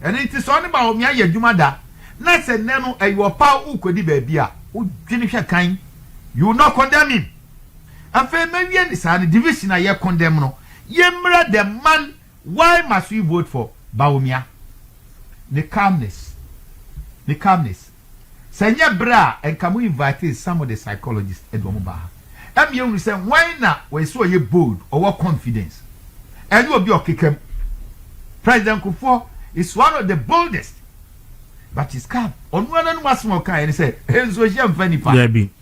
S1: Ɛno nti sɛ ɔne Bawumia yɛ adwuma da na sɛ nnɛ no ɛyɛ ɔpaw wokɔdi baabi a, wodwene hwɛ kan, you will not condemn him. Afei mɛwie ne saa no, division a yɛ condemn no, yɛmmra the man why must we vote for Bawumia? Ne calmness, ne calmness. Sɛ ɛnyɛ bere a nka mo invitee some of the psychologists de wɔn baa ha. Ɛma yɛhunu sɛ wɔn na wɔyɛ sɛ ɔyɛ bold, ɔwɔ confidence. Ɛnyɛ obi a ɔkeka mu. President Kufuor is one of the boldest but he's calm. Ɔno ara n'anom asɛm a ɔkaeɛ ne sɛ, Nsuohyɛ mfa nnipa. Dabi.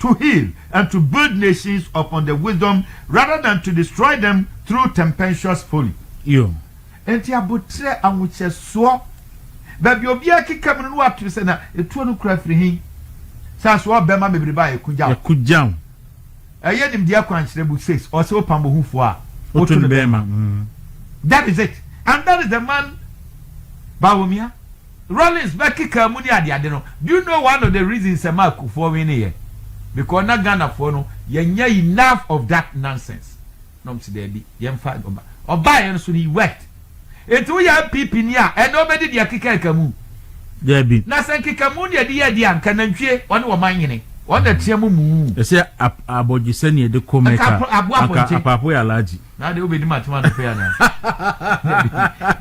S1: to heal and to build nations upon the wisdom rather than to destroy them through tempestuous folly. Yo.
S2: Enti aboterɛ,
S1: ahohyɛsoɔ, baabi a obiara keka mu no na wato sɛ na etuo no kura firi he? Sane so ɔɔ bɛma mebere ba a ɛkogyaw. Ɛkogyaw.
S2: Ɛyɛ
S1: nimdeɛ akwankyerɛ book says ɔse wopam bohufoɔ a woto no bɛma.
S2: That
S1: is it and that is the man Bawumia. Rawlings bɛkekaa mu ne adeade no, do you know one of the reasons ɛmaa akufoɔ wineeɛ? Because na Ghanafoɔ no yɛnyɛ enough of that nonsense. Na wɔn se daabi, yɛmfa ɔba. Ɔbaeɛ no so no, he worked. Enti woyɛ NPP ni a, ɛnnɛ wobɛdi deɛ ɛkekaa kamu? Daabi. Na
S2: sɛ nkekamu na yɛde
S1: yɛ adeɛ a, nka nantwie, wɔne wɔn man nyene. Wɔn na team muu. Ɛsɛ
S2: abɔdwesɛ na yɛde kɔ Mecca, anka Apaapo yɛ Alhaji. na de wobɛdi matem
S1: anɔpɛ anaa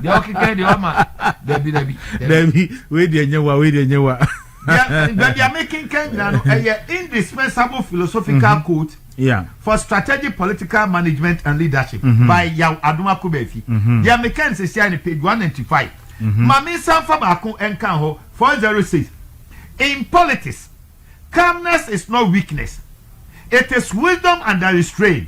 S1: deɛ ɔkeka deɛ wama dabi dabi dabi wei deɛ nyɛ
S2: wa wei deɛ nyɛ wa baabi
S1: a mekenka nyina no ɛyɛ indispensable philosophical mhm. code yeah. for strategic political management and leadership mm -hmm. by yaw adoma kobafi mhm. deɛ meka no sɛsia no page 195 mhm. ma mensan fa baako ɛnka hɔ 406 in politics calmness is not weakness it is wisdom under restraint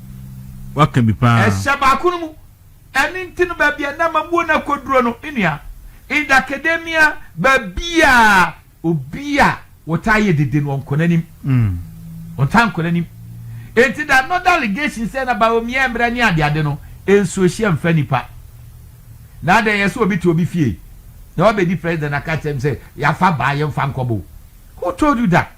S1: waka bi
S2: paa. Ɛhyɛ baako no mu.
S1: Ɛno nti no baabi a na mamuo no akɔduro no nua, in the academia baabiaa obi a wɔtaa yɛ dede no ɔnkɔ n'anim. Ɔntaa nkɔ n'anim. Nti the another allegation sɛ na Bawumia mmerɛ ne adeade no nsuo hyɛ mfa nipa. Na adɛn yɛ sɛ obi te obi fie na wabɛdi president na ka kyerɛ no sɛ yɛafa baa yɛmfa nkɔbo. Who told you that?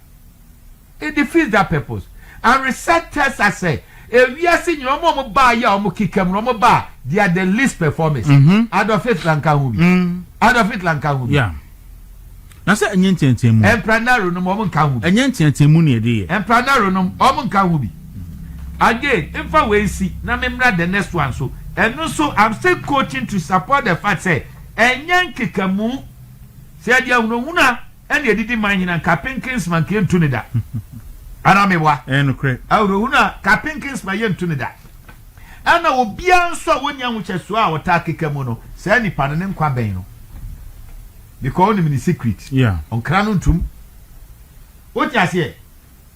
S1: It defeats that purpose and research tells us sɛ ewiase nyina ɔmo a ɔmo baa yɛ a ɔmo kekam no ɔmo baa they are the least performers. Adolf Hitler nka ho bi. Adolf Hitler nka ho bi. Yeah.
S2: Na sɛ ɛnyɛ nteateamu a. Emperor Nero nom ɔmo
S1: nka ho bi. Ɛnyɛ nteateamu na yɛde yɛ.
S2: Emperor Nero nom ɔmo
S1: nka ho bi. Again, mfa wei nsi na me mmra the next one so. Ɛno nso I'm still coaching to support the fact sɛ ɛnyɛ nkekamu. Sɛ yɛde ahunahuna. Ɛna edidi man nyina nka Pinkinsma nka yɛ ntu ne da Anaa me boa Ɛyɛ nokorɛ Awerɛhunu
S2: a ka
S1: Pinkinsma yɛ ntu ne da Ɛna obiara nso a wɔnni ahokyɛsoɔ a ɔtaa keka mu no saa nipa no ne nkwa bɛn no Because ɔnim ne secret Yeah Ɔnkra no ntum Wote aseɛ?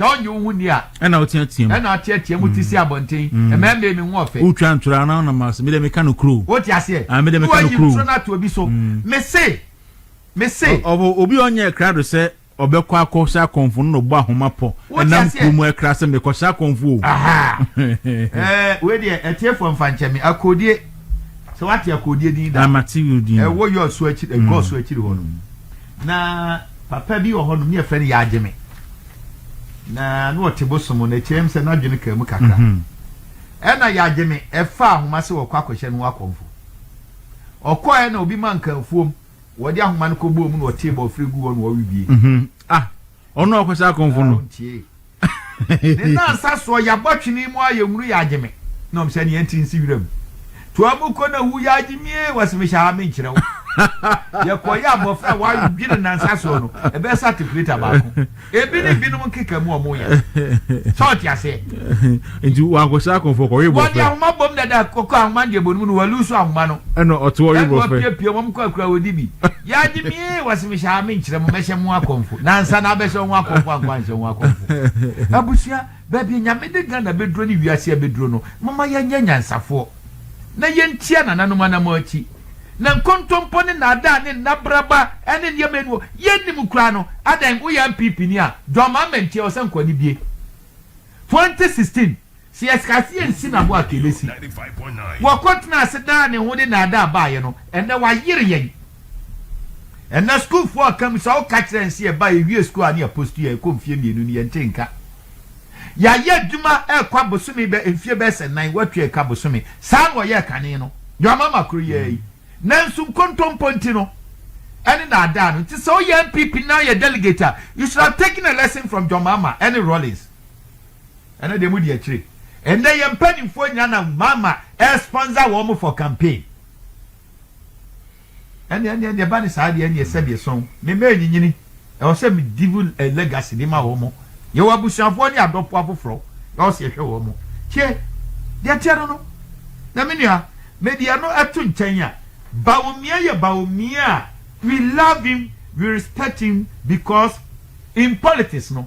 S3: sɛ ɔnye wo ho ni a ɛna woteatea mu ɛna
S2: ateatea mu te si mm.
S3: abɔnten mm. ɛmɛ mmɛ mi ho ɔfɛ wotwa ntora na ɔnam
S2: ase mede meka no kuro wote aseɛ ah, mede
S3: meka no kuro woturo
S2: no ato obi so mm.
S3: mese mese ɔbɔ
S2: obi ɔnyɛ krado sɛ ɔbɛkɔ akɔ sɛ akɔnfo no na ɔbɔ ahoma pɔ ɛnam kuro mu ɛkra sɛ mekɔ sɛ akɔnfo o eh,
S3: wei deɛ ɛteɛfoɔ mfa nkyɛ me akodie sɛ wate akodie din da ɛwɔ
S2: yɛ ɔso akyiri ɛgɔ
S3: ɔso akyiri hɔ no Na papa bi wɔ hɔ nom ne yɛfrɛ no Yagyeme na na ɔte bosom no akyire m sɛ n'adwene kaa mu kakra ɛna Yagyeme ɛfa ahoma sɛ wɔkɔ akɔhyɛ no akɔmfo ɔkɔɛ na obi ma nkanfuom wɔde ahoma no kɔbɔɔ mu na ɔtee bɔfrɛ gu hɔ na ɔwe bie ah
S2: ɔno ɔkɔhyɛ akɔmfo no
S3: Ne nansa soɔ yabɔ twene mu a yɛhunu yɛ agye me. Na ɔm sɛ nea nte nsi wira mu. Toa mu kɔ na wu yɛ agye me ee wɔse me hyɛ ha me nkyerɛ wo. Yɛkɔ yɛ abɔfra a wɔadwe ne nansa soɔ no ɛbɛyɛ sɛ atekuleta baako. Ebi ne binom nkeka mu a ɔmo yɛ. Sɛ ɔte aseɛ. Nti wankɔ
S2: sra akɔmfoɔ kɔ we bɔfra. Wɔde ahoma bom
S3: dada kɔkɔ ahoma deɛ bɔ no mu no walusu ahoma no. Ɛna ɔto ɔwe bɔfra. Ɛna
S2: ɔpie pie wɔn kɔ akura wɔdi bi.
S3: Yɛagye me ee, wɔse mehyɛ a menkyerɛ mo mɛhyɛ mo akɔmfo nansa na abɛhyɛ wɔn akɔmfo ankɔ anhyɛ wɔn akɔmfo abusua baabi a Nyame de Ghana bɛduro ne wiase abɛduro no momma yɛnyɛ nyansafoɔ na yɛntia nananom anamɔ akyi na nkontompɔ ne naadaa ne nnabraba ne nneɛma anuo yɛnnim koraa no adɛn woyɛ NPP ni a John Mahama nti ɛwɔ sɛ nkwanibie 2016 Sɛ yɛskaa sɛ yɛnsi no abo a Kelesi wɔ kɔ tenaa ase daa ne ho de naadaa baeɛ no, ɛnnɛ wayere yɛn. Ɛnnɛ sukuufoɔ a ɔka mu sɛ woka kyerɛ yɛn sɛ yɛba yɛwie sukuu a ne yɛ post yɛ ɛkɔ mfie mmienu no yɛnte nka. Yɛayɛ adwuma ɛrekɔ abosome bɛ mfie bɛyɛ sɛ nan woatua ɛka bosome saa na ɔyɛɛ kane no deɛ ɔma ma koro yɛɛ yi nanso nkontompo nti no ɛne naadaa no nti sɛ woyɛ NPP na woyɛ delegate a you should have taken a lesson from John Mahama ɛne Rawlings. Ɛno deɛ modi akyire. Ɛndɛ yɛn mpaninfoɔ nyina na mama ɛ sponsor wɔn for campaign. Ɛneɛ ɛneɛ deɛ ɛba ne saa deɛ ɛneɛ sɛdeɛ sɔn me mɛ nyinyini ɛwɔ sɛ me divu ɛ legacy de ma wɔn. Yɛwɔ abusuafoɔ ne adɔfoɔ afoforɔ ɛwɔ sɛ yɛhwɛ wɔn. Tie deɛ teɛ no no na me nua mede ɛno ɛto nkyɛn a Bawumia yɛ Bawumia a we love him we respect him because in politics no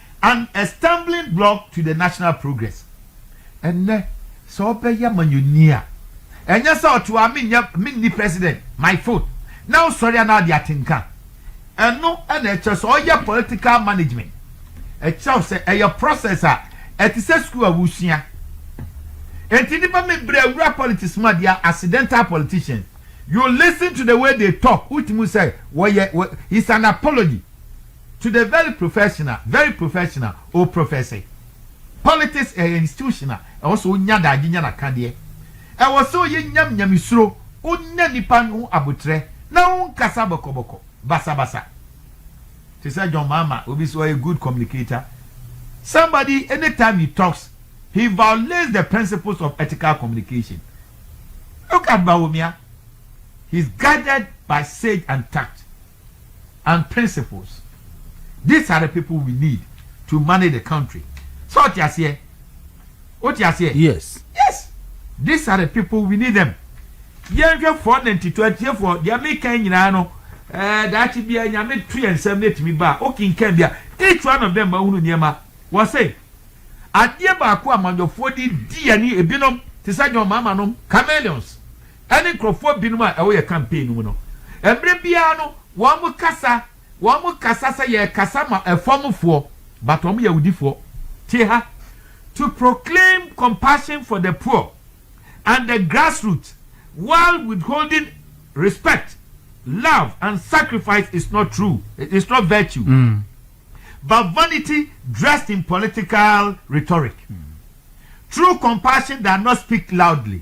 S3: And a stumbling block to the national progress Ɛnnɛ sɛ wobɛyɛ amanyɔni a ɛnyɛ sɛ ɔte hɔ a menyɛ menni president my foot na wosɔre a na wode atenka Ɛno na ɛkyerɛ sɛ ɔyɛ political management Ɛkyerɛ wo sɛ ɛyɛ process a ɛte sɛ sukuu a wosua Enti nnipa bebree wura politics mu a they are accidental politicians You listen to the way they talk wotumi hu sɛ wɔyɛ wɔ He's an apology To the very professional, very professional, O Professor, politics ɛyɛ institution a ɛwɔ sɛ ɔnya daagye nya nakadeɛ. Ɛwɔ sɛ ɔyɛ nyam nyamesuro, ɔnya nnipa ho aboterɛ na ɔnkasa bɔkɔbɔkɔ, basabasa. Te sɛ John Mahama, obi nso ɔyɛ good communicator. Somebody, anytime he talks, he violates the principles of ethical communication. Look at Bawumia, he is guided by sage and tact. and principles these are the people we need to manage the country sɛ ɔte aseɛ wote aseɛ yes yes
S2: these
S3: are the people we need them yɛnhwɛ four ninety two atiefoɔ deɛ meka nyinaa no ɛɛ eh, daakye bia nyame to yɛ nsɛm no atumi ba a wokenkan bia each one of them ma wohunu nneɛma wɔ se adeɛ baako a amannyɔfoɔ de di yɛne ebinom te sɛ john maama nom chameleons ne nkurɔfoɔ binom a ɛwɔ yɛn campaign no mu no, mmerɛ biara no wɔn kasa, wɔn kasa sɛ yɛrekasa ma ɛfɔm foɔ, but wɔn yɛ awudifoɔ, te ha, to proclaim compassion for the poor and the grassroot while withholding respect, love and sacrifice is not true, is not virtue but vanity dressed in political rhetoric, true compassion does not speak loudly.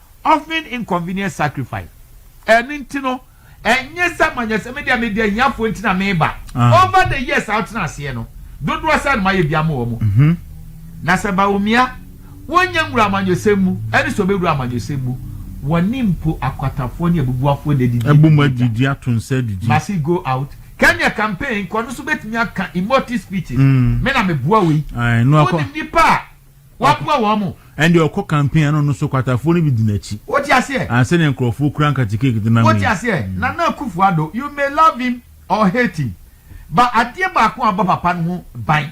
S3: Often inconvenient sacrifice, Ɛno nti no, ɛnyɛ sɛ manyɛ sɛ me deɛ mede ahiafoɔ nti na mereba. Over the years a wotena aseɛ no, dodoɔ sɛn na moayɛ bi ama wɔn? Na sɛ Bawumia, wonyɛ nwura amanyɔsɛm mu, ɛne sɛ ɔbɛwura amanyɔsɛm mu, wɔne mpo akwatafoɔ ne abubuafoɔ na adidi agu mu
S2: atwa. Must he go
S3: out? Kenya campaign kɔ no nso bɛtumi aka emotive speeches, me na meboa wei. Wonim nnipa a Waboa wɔn mo. Ɛnde ɔkɔ campaign
S2: a na ɔno nso kwatafoɔ no bi di n'akyi. Wote aseɛ? Ansa na nkurɔfoɔ kura nkate cake de nam yi. Wote aseɛ? Nana
S3: Akufo Addo, you may love him or hate him, but adeɛ baako a abɔ papa no ho ban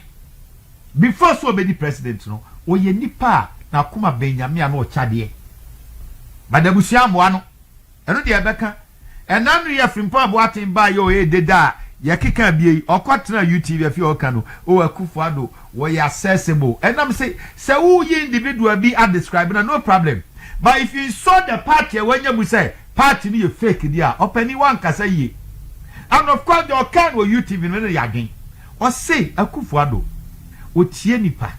S3: before sɛ ɔbɛdi president no, ɔyɛ nipa a n'akoma bɛn Nyame a na ɔkyɛ adeɛ. But abusua ammoa no. Ɛno deɛ ɛbɛka. Ɛna no yɛ Frimpong Boateng baeɛ oo ee deda a yɛkeka abie yi ɔkɔ tenaa UTV afei ɔreka no oo Akuffo Addo wɔyɛ accessible ɛnam se sɛ woyi individual bi a describe no a no problem but if you insult the party a wanya mu sɛ party no yɛ fake deɛ a ɔpanin woankasa yie and of course deɛ ɔkaa no wɔ UTV no ne yɛ adwen Ɔse Akuffo Addo ɔtie nipa,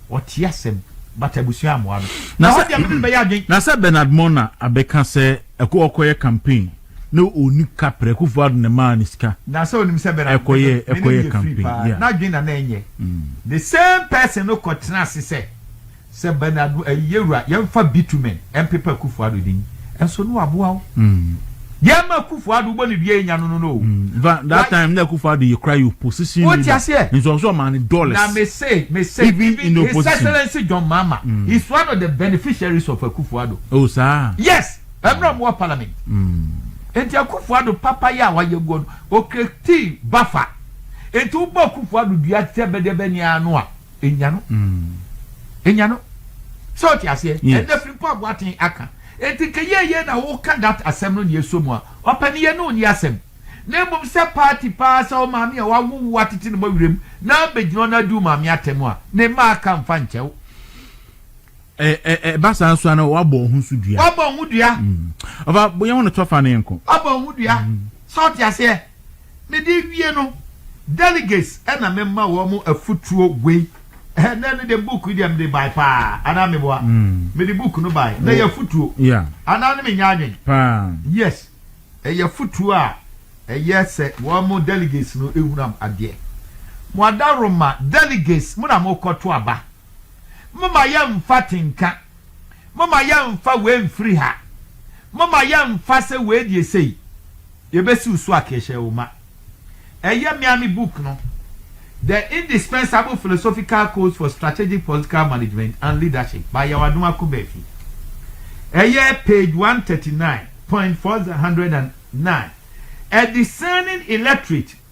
S3: ɔtie asɛm but abusua ammoa no. Na hɔ deɛ mede no bɛyɛ adwen.
S2: Na sɛ Bernard Mona abɛka sɛ Aku ɔkɔyɛ campaign na ɔnni kaprɛ, Akuffo Addo na ɛmaa no sika. Na sɛ ɔnim sɛ Bernard
S3: me ne no yɛ free
S2: paa, n'adwen na na ɛnyɛ.
S3: The same person no kɔtena ase sɛ Sɛ Bernard no ɛyi yɛwura yɛnfa bitumen ɛmpepa Akufo Addo din ɛnso no aboa wo yɛma Akufo Addo wobɔ ne dua yɛnya no no no o. That, that time na
S2: Akufo Addo yɛ kura yɛ opposition leader. Wotia seɛ. Nso ɔso
S3: ɔmaa ne dollars.
S2: Na me se, me
S3: se even, even in the opposition.
S2: His Excellency John
S3: Mahama mm. is one of the beneficiaries of Akufo Addo. Oh saa. Yes,
S2: ɛmɛ ɔmo
S3: wɔ parliament. Nti Akufo Addo papa yɛ a wayɛ guo no, okireti bafa. Nti wobɔ Akufo Addo dua sɛ bɛdɛbɛ ni ano a. Enya no mm. Enya no. Sɛ ɔte aseɛ. Yes. Ɛnna firi mpo aboaten aka. Enti nka yie yie na woka that asɛm no na ɛsɔ mu a. Ɔpaniyɛ no nni asɛm. Na mmom sɛ party paa sɛ wo maame a wawo wo atete ne bɔ werɛ mu na abɛgyina hɔ na adi wo maame atɛm a, ne mma aka mfa nkyɛ wo. Ɛ ɛ
S2: ɛba saa nso a na wabɔ ɔho nso dua. Wabɔ ɔho dua. Ɔfa yɛn ho no to afa no yɛn kɔ. Wabɔ ɔho dua.
S3: Sɛ ɔte aseɛ. Me de wie no delegates ɛna me ma wɔn mo afutuo wei ɛnɛ no deɛ book yi deɛ me de bae paa anaa me boa me de book no bae na yɛ afutuo anaa no me
S2: nya adwen
S3: paa yes ɛyɛ afutuo a ɛyɛ sɛ wɔn mo delegates no ehunam adeɛ mo adaroma delegates mo na mo kɔ to aba. Momma yɛmfa tenka. Momma yɛmfa wei mfiri ha. Momma yɛmfa sɛ wei deɛ sei. Yɛbɛsiw so akehyɛoma. Ɛyɛ me ara me book no, The Indispensable Philosophical Codes for Strategic Political Management and Leadership by Yawadom Akobafi. Ɛyɛ page one thirty nine point four hundred and nine. A Discerning Electorate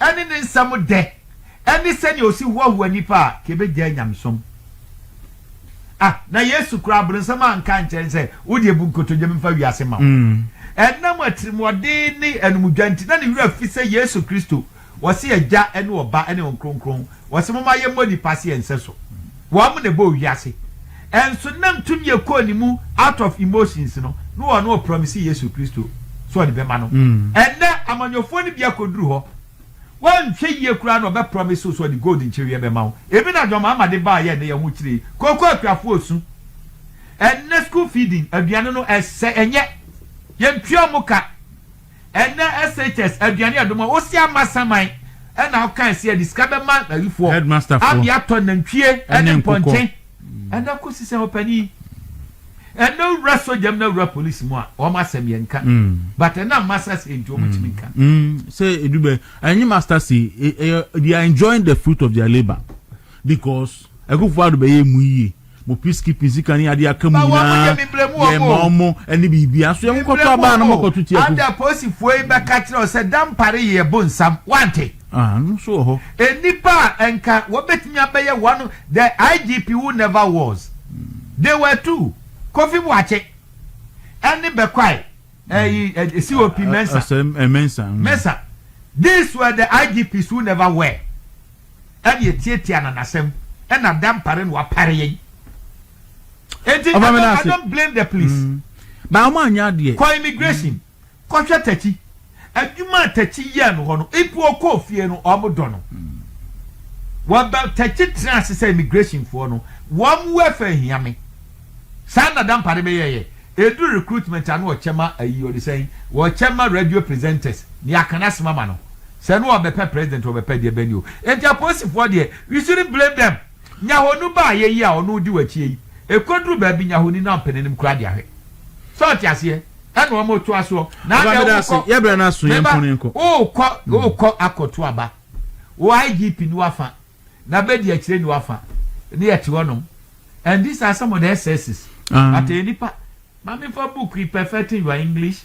S3: ɛne ne nsɛm dɛ, ɛne sɛnea osi hoahoa nnipa a nka ebegyaa nyamesom. Ah, na Yesu koraa, Abronsam anka ankyerɛ no sɛ, Wo deɛ, bu nkotodwe memfa wiase mma wo. Ɛnam atirimuɔden ne anumdwa nti, na ne werɛ afi sɛ Yesu Kristo, ɔse Agya ne Ɔba ne Wɔn Kronkron, Wɔse momma yɛmmɔ nipa se ɛnsɛ so wɔn na ɛbɔɔ wiase nso nam tumi a ɛkɔɔ ne mu out of emotions no na ɔno ɔpromise Yesu Kristo sɛ ɔde bɛma no ɛnnɛ amanyɔfoɔ no bi akɔduru hɔ woanhwɛ yie koraa na ɔbɛpromise wo sɛ ɔde gold nkyereweɛ bɛma wo ebi na John Mahama de baeɛ ɛnnɛ yɛn ho kyerɛ kooko akuafoɔ ɔsu ɛnnɛ school feeding aduane no ɛsɛ ɛnyɛ yɛntua wɔn ka. Ɛnɛ SHS aduane ɛdom a wosi ama saman ɛna ɔka ɛsi ɛde sika bɛma ayifoɔ abia atɔ
S2: nantwie
S3: ɛne mpɔnkye ɛnɛ kosi sɛ ɔpɛni ɛnɛ wura soja mu na wura polisi mu a wɔn asɛm yɛn nka mm. but ɛna masa si nti wɔn tumi nka. Mm. Mm. sɛ edubɛ
S2: ɛnye master si ɛyɛ e, e, they are enjoying the fruit of their labour because ɛkufo ado bɛyɛ mu yie. Mo peacekeeping sika ne ade aka mu nyinaa yɛ ma ɔmo ɛne biribia so yɛ mo kɔtɔ abaa na mo kɔto tia ku. Ada polisifoɔ yi
S3: bɛka kyerɛ wo sɛ Dampare yɛ bonsam wante? Ah ɛno nso wɔ hɔ.
S2: Nnipa a ɛnka
S3: wɔbɛtumi abɛyɛ wɔn the IGP who never was they were two Kofi Boakye ɛne Bɛkwae. ɛyi eh, eh, eh, cop mensa mensa mm. mensa this were the igps who never were ɛne ɛtiatia na nasɛm ɛna da mpare na wapare yɛn enti i don't blame the police mm. ba ɔmo anya
S2: adeɛ kɔ immigration mm.
S3: kɔhwɛ takyi adwuma takyi yɛ no hɔ no ipu ɔkɔ fie no ɔmo dɔ no wɔbɛ takyi tena ase sɛ immigration foɔ no wɔn wɛfɛ hiame saa na da mpare bɛyɛ yɛ. Edu recruitment ano ɔkyɛ ma ayi ɔde sɛn ɔkyɛ ma radio presenters nea aka no asem ama no sɛ no ɔbɛpɛ president ɔbɛpɛ deɛ bɛn ni o enti apolisifoɔ deɛ we shouldn't blame them nyahonu baayɛ yi a ɔno di w'akyie yi ɛkɔduru baabi nyahoni no ampɛ n'anim koraa deɛ ahwɛ sɛ ɔte aseɛ ɛna ɔmo toa soɔ na Aba adɛ meda ase, wokɔ yɛbrɛ no aso,
S2: me ba yɛnko no nkɔ. wokɔ wokɔ
S3: akɔto aba wo IGP no afa na bɛ di akyire niwa fa ne yɛ te hɔ nom and these are some of the excesses but ɛyɛ nipa maame fa book yi perfecting your English.